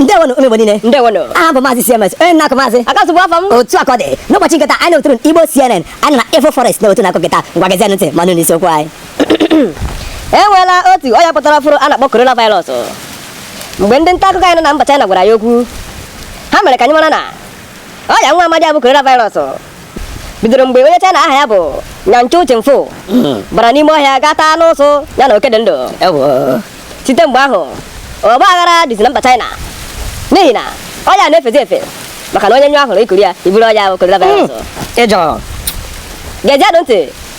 ndewonụ ụmụ Igbo niile ndewonụ abụ m maazị CMS onye na-akụ maazị akasụ bụ afa m otu akọ dị n'ụbọchị nketa anyị na-ewetụrụ Igbo CNN anyị na Info Forest na otu na-akụ nketa ngwa gezie ntị ma nụ n'isiokwu anyị e nweela otu ọya pụtara ọfụrụ a na-akpọ coronavirus mgbe ndị nta akụkọ anyị nọ na mba China gwara ya okwu ha mere ka anyị mara na ọya nwa amadi a bụ coronavirus bidoro mgbe onye China aha ya bụ Nyanchu Chimfu bara n'ime ọhịa gaa taa anụ ụsụ ya na oke dị ndụ Ewo. site mgbe ahụ ọgba aghara dịzi na mba China n'ihi na ọya na-efezi efe maka na onye nyụọ ahụrụ i kuru ya i buru ọya ahụ coronavirus Ejọ. gezienụ ntị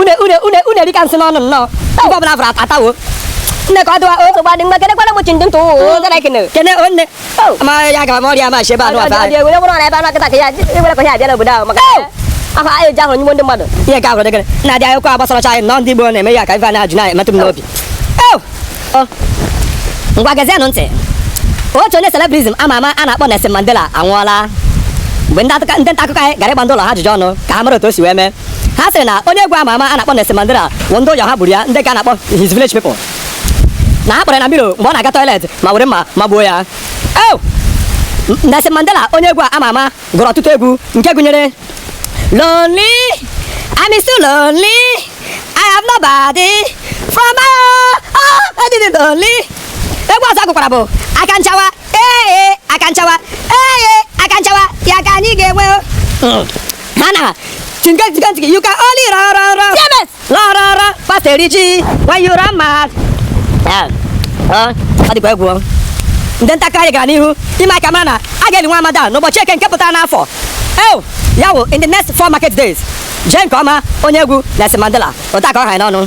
une une une une erika nsị n'ọnụ nnọọ ife ọbụla a fụrụ ata- atawo nne ka ọ dịwa o nsogbu adị mma kenekwara m chindị ntụ ụwa gara ekene kene o nne Oh. ma ya gara m ọrịa ma shi ebe anụ afa anyị ewere bụrụ na ebe anụ akịta ka ya ewere ka ya abịa n'obodo ahụ maka Oh. ahụ anyị eji ahụ nyigbu ndị mmadụ ihe ka ahụrụ dịgịrị na-adị akụkọ agbasaracha anyị nọ ndị Igbo na-eme ya ka ife a na-ajụ na-emetụ m n'obi Oh. Oh. ngwa gezienụ ntị otu onye celebrism ama ama a na-akpọ Nelson Mandela anwụọla mgbe ndị akụkọ- ndị nta akụkọ anyị gara ịgba ndị ụlọ ha ajụjụ ọnụ ka ha mara otu o si wee mee ha sịrị na onye egwu ama ama a na-akpọ Nelson Mandela wụ ndị ụyọ ha gburu ya ndị ka a na-akpọ his village people na ha kpọrọ ya na mirror mgbe ọ na-aga toilet ma were mma magbuo ya Ew! Nelson Mandela onye egwu ama ama gụrụ ọtụtụ egwu nke gụnyere Lonely, I'm so lonely, I have nobody from my own, oh, I didn't lonely. Egwu ọzọ ọ gụkwara bụ aka nchawa, ee aka nchawa, ee aka nchawa, ya ka anyị ga-enwe. o. Nana, chinke chinke chinke, you can only run run run. James! Run run run, fast eriji, when you run mad. Ya, ọ, ọ dịkwa egwu ọ. Ndị nta akụkọ anyị gara n'ihu ime ka a mara na a ga-eli nwa amadi a n'ụbọchị eke nke pụtara n'afọ. Ew, ya wụ in the next four market days. Jee nke ọma onye egwu Nelson Mandela, ụta ka ọ hanye n'ọnụ.